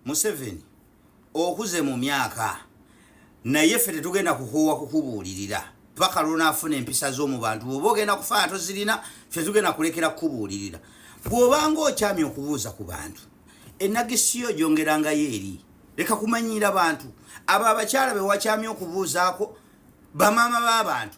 museveni okuze mu myaka naye ffe tetugenda kukuwa kukubuulirira paka lwonaafuna empisa z'omu bantu bwoba ogenda kufaana tozirina ffe tugenda kulekera kukubuulirira bw'obanga okyami okubuuza ku bantu enagisiyo gyongerangayo eri leka kumanyiira bantu abo abakyala bewakyami okubuuzaako bamaama b'abantu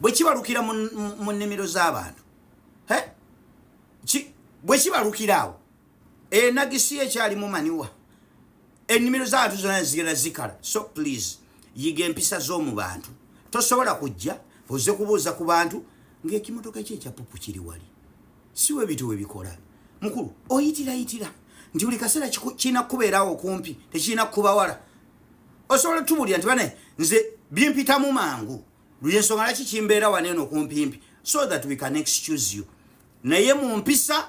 bwe kibalukira mu nnimiro z'abantu bwe kibalukira awo enagisi ye ekyalimu maniwa ennimiro z'abantu zona zigenda zikala so please yiga empisa z'omu bantu tosobola kujja oze kubuuza ku bantu ng'ekimotoka ekyo ekyapupu kiri wali si we bintu we bikola mukulu oyitirayitira nti buli kaseera kirina kukubeerawo okumpi tekirina kukubawala osobola tubuulira nti bane nze bimpitamu mangu luyensonga laki kimbeera wano eno kumpimpi so that we can excuse you naye mu mpisa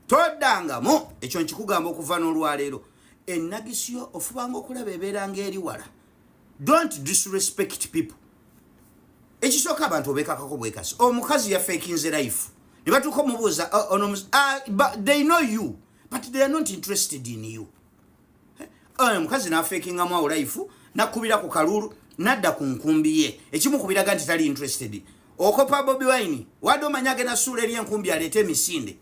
toddangamu ekyo nkikugamba okuva n'olwaleero ennagisi yo ofubanga okulaba ebeera ng'eri wala don't disrespect people ekisooka abantu obekakako bwekasi omukazi yafekinze life ne batuuka omubuuza oh, ah, they know you but they are not interested in you eh, omukazi nafekingamu awo life nakubira ku kalulu nadda ku nkumbi ye ekimukubiraga nti tali interested okopa bobi wine wade omanya agenda suula eri enkumbi aleete emisinde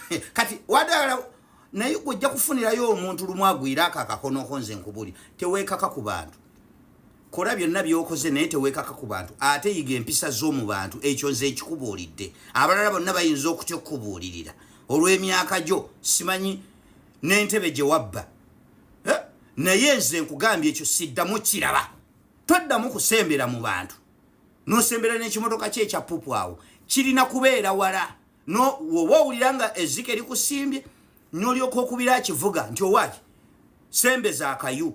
eh, kati wade naye gwe ojja kufunirayo omuntu lumu agwire ako akakonoko nze nkubuli teweekaka ku bantu kola byonna byokoze naye teweekaka ku bantu ate yiga empisa z'omu bantu ekyo nze ekikubuulidde abalala bonna bayinza okutya okukubuulirira olw'emyaka gyo simanyi n'entebe gye wabba eh? naye nze nkugambye ekyo siddamu kiraba toddamu kusembera mu bantu nosembera n'ekimotoka kye ekya pupu awo kirina kubeera wala oba owulira nga ezika erikusimbye nolyoka okubira akivuga nti owaki sembeza akayu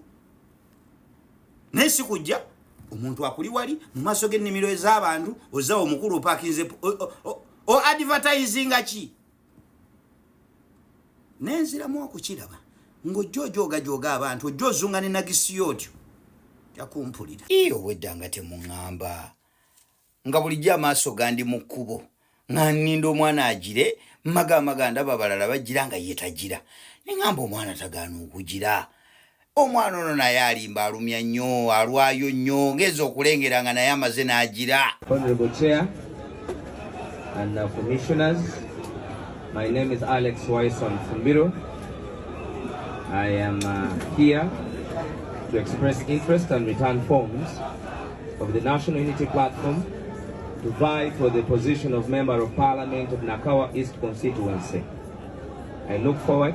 naye sikujja omuntu akuli wali mu maaso g'ennimiro ez'abantu ozawo omukulu opakinze o advertisinga ki nenziramu okukiraba ng'ojja ojoogajooga abantu ojja ozunga ne nagisiyo otyo jakumpulira ii obwedda nga temuŋŋamba nga bulijjo amaaso gandi mu kkubo nga nninda omwana agire mmaga amaga ndaba abalala bagira nga ye tagira neŋŋamba omwana tagaana okugira omwana ono naye alimba alumya nnyo alwayo nnyo ngeeza okulengera nga naye amaze n'agira My name is Alex Wyson Fumbiro. I am uh, here to express interest and return forms of the National Unity Platform to vie for the position of Member of Parliament of Nakawa East constituency. I look forward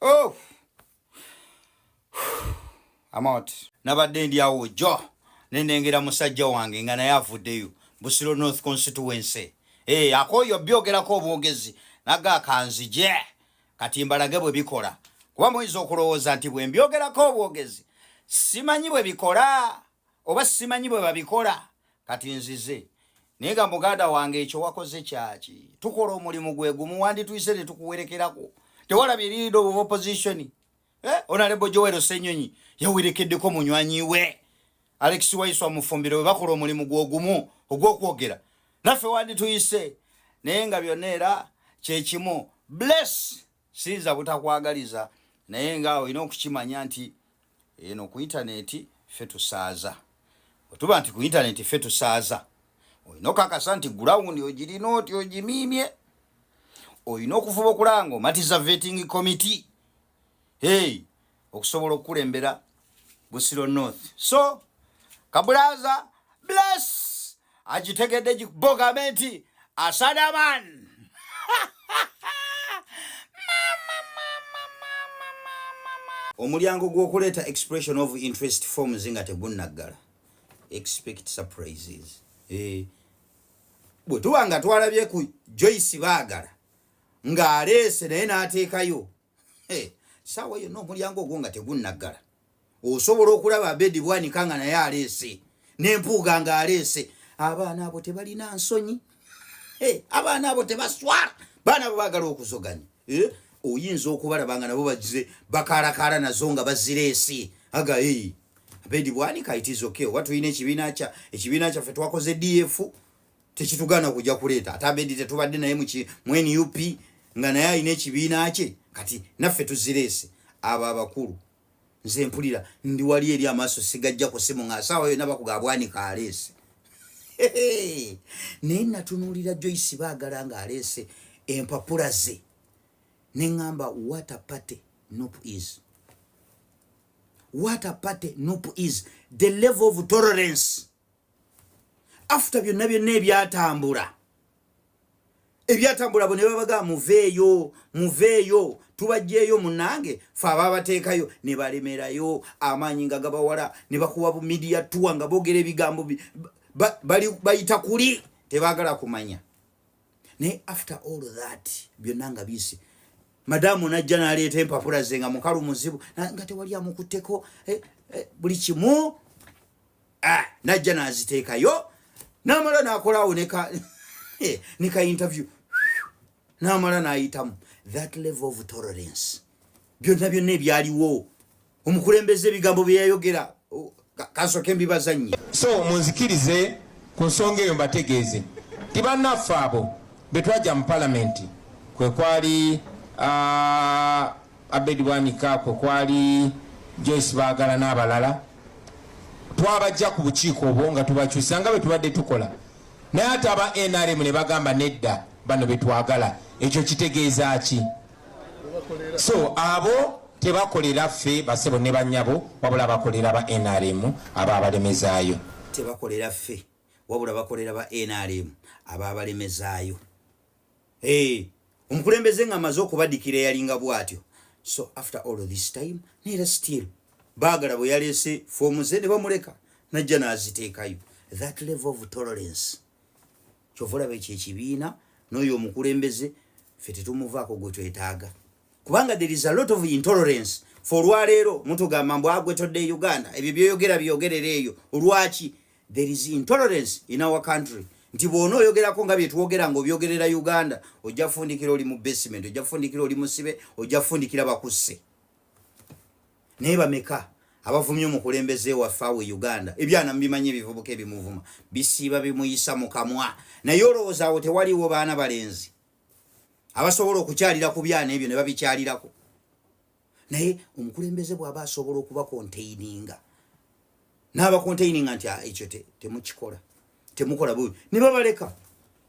oh. amount nabadde ndi awo jo nenengera musajja wange nga naye avuddeyo busiro north constituency hey, eh, akoyo byogerako obwogezi naga akanzije kati mbalage bwe bikola kuba muyinza okulowooza nti bwe mbyogerako obwogezi simanyi bwe bikola oba simanyi bwe babikola kati nzize naye nga muganda wange ekyo wakoze kyaki tukola omulimu gwe gumu wandituyise ne tukuwerekerako tewalaba eriido of opposition eh? onalebo jowero senyonyi yawerekeddeko munywanyi we alex waiswa mufumbiro we bakola omulimu gwogumu ogwokwogera naffe wandituyise naye nga byonna era kyekimu bless siyinza butakwagaliza naye nga olina okukimanya nti eno ku intaneti ffe tusaaza otuba nti ku intaneti ffe tusaaza olina okakasa nti gulawundi ogirina oti ogimiimye olina okuvuba okulaba nga omatiza vetting committee hey okusobola okukulembera busiro north so kabulaza bless agitegedde gibogambe nti asadaman omulyango gw'okuleeta expression of interest forms nga tegunnaggala expect surprises eh. bwe tuba nga twalabye ku joyce baagala ng'aleese naye n'ateekayo saawa yonna omulyango ogwo nga tegunnaggala osobola okulaba abedi bwanika nga naye aleese nempuuga nga aleese abaana abo tebalina nsonyi abaana abo tebaswala baana abo bagala okuzoganya eh? oyinza okubalaba nga nabo bagize bakalakala nazo nga bazireesi aga abedi bwanika itizoke oba tulina ekibiina kya ekibiina kyaffe twakoze df tekitugana kuja kuleeta ate abedi tetubadde naye muki mu nup nga naye alina ekibiina kye kati naffe tuzireese abo abakulu nze mpulira ndi wali eri amaaso sigajja ku simu nga asaawa yona bakuga abwanika aleese naye natunuulira joyce baagala nga aleese empapula ze ne ŋŋamba wata party nup is wata party nup is the level of tolerance after byonna byonna ebyatambula ebyatambula bo ne babaga muveeyo muveeyo tubajjeeyo munange fe ababateekayo ne balemerayo amaanyi nga gabawala ne bakuwa bu midiya tuwa nga boogera ebigambo bayita kuli tebagala kumanya naye after all that byonna nga bisi madamu najja naleeta empapula ze nga mukalu muzibu nga tewali amukutteko eh, eh, buli kimu ah, najja naziteekayo namala nakolaawo neka eh, neka interview namala nayitamu that level of tolerance byonna byonna ebyaliwo omukulembeze ebigambo byeyayogera kasoke mbibazannyi so munzikirize ku nsonga eyo mbategeeze ti bannaffe abo betwajja mu palamenti kwekwali uh, Abed Bwanika kwe kwali Joyce Baagala n'abalala twabajja ku bukiiko obwo nga tubakyusa nga bwe tubadde tukola naye ate aba nrm ne bagamba nedda bano betwagala ekyo kitegeeza ki so abo tebakolera ffe basebo ne banyabo wabula bakolera ba nrm aba abalemezaayo tebakolera ffe wabula bakolera ba nrm aba abalemezaayo Hey, omukulembeze nga amaze okubadikira eyalinga bwatyo so after all this time nera still bagala bwe yalese fomu ze ne bamuleka najja naziteekayo that level of tolerance kyovulaba ekyo ekibiina n'oyo omukulembeze fe tetumuvaako gwe twetaaga kubanga there is a lot of intolerance for olwaleero mutugamba mbu agwe todde e uganda ebyo byoyogera byogerera eyo olwaki there is intolerance in our country nti bwona oyogerako nga byetwogera nga obyogerera uganda ojja kufundikira oli mu basement ojja kufundikira oli musibe ojja kufundikira bakusse naye bameka abavumye omukulembeze waffe awo e uganda ebyana mubimanyi ebivubuka ebimuvuma bisiiba bimuyisa mu kamwa naye olowooza awo tewaliwo baana balenzi abasobola okukyalira ku byana ebyo ne babikyalirako naye omukulembeze bw'aba asobola okuba konteininga n'aba konteininga nti ah, ekyo temukikola temukola bubi ne babaleka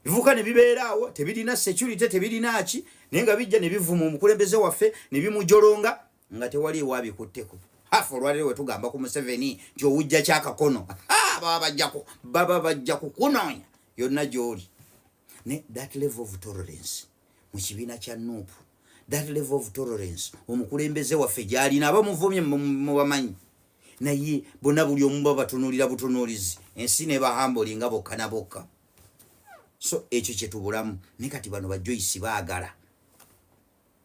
bivuka ne bibeeraawo tebirina security tebirinaaki naye nga bijja ne bivuma omukulembeze waffe ne bimujolonga nga tewali ewabikutteko hafu olwaliro we tugamba ku museveni nti owujja kyakakono baba bajja kukunoonya yonna gy'oli ne that level of tolerance mu kibiina kya nuupu that level of tolerance omukulembeze waffe gyalina aba muvumye mubamanyi naye bona buli omu babatunulira butunulizi ensi nebahamboli nga bokka na bokka so ekyo kyetubulamu ne kati bano bajoyisi baagala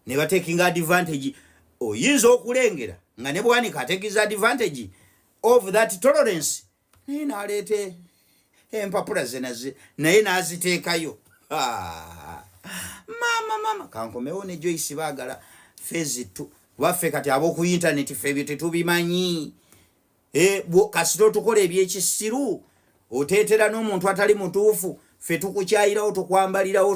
ne batekinga advantage oyinza okulengera nga ne bwanika atekiza advantage of that tolerance naye naleeta empapula zenaze naye naziteekayo maama maama kankomewo ne joyce baagala fezi tu waffe kati ab'oku intaneti fe ebyo tetubimanyi eh, kasita otukola ebyekisiru oteetera n'omuntu atali mutuufu fe tukukyayirawo tukwambalirawo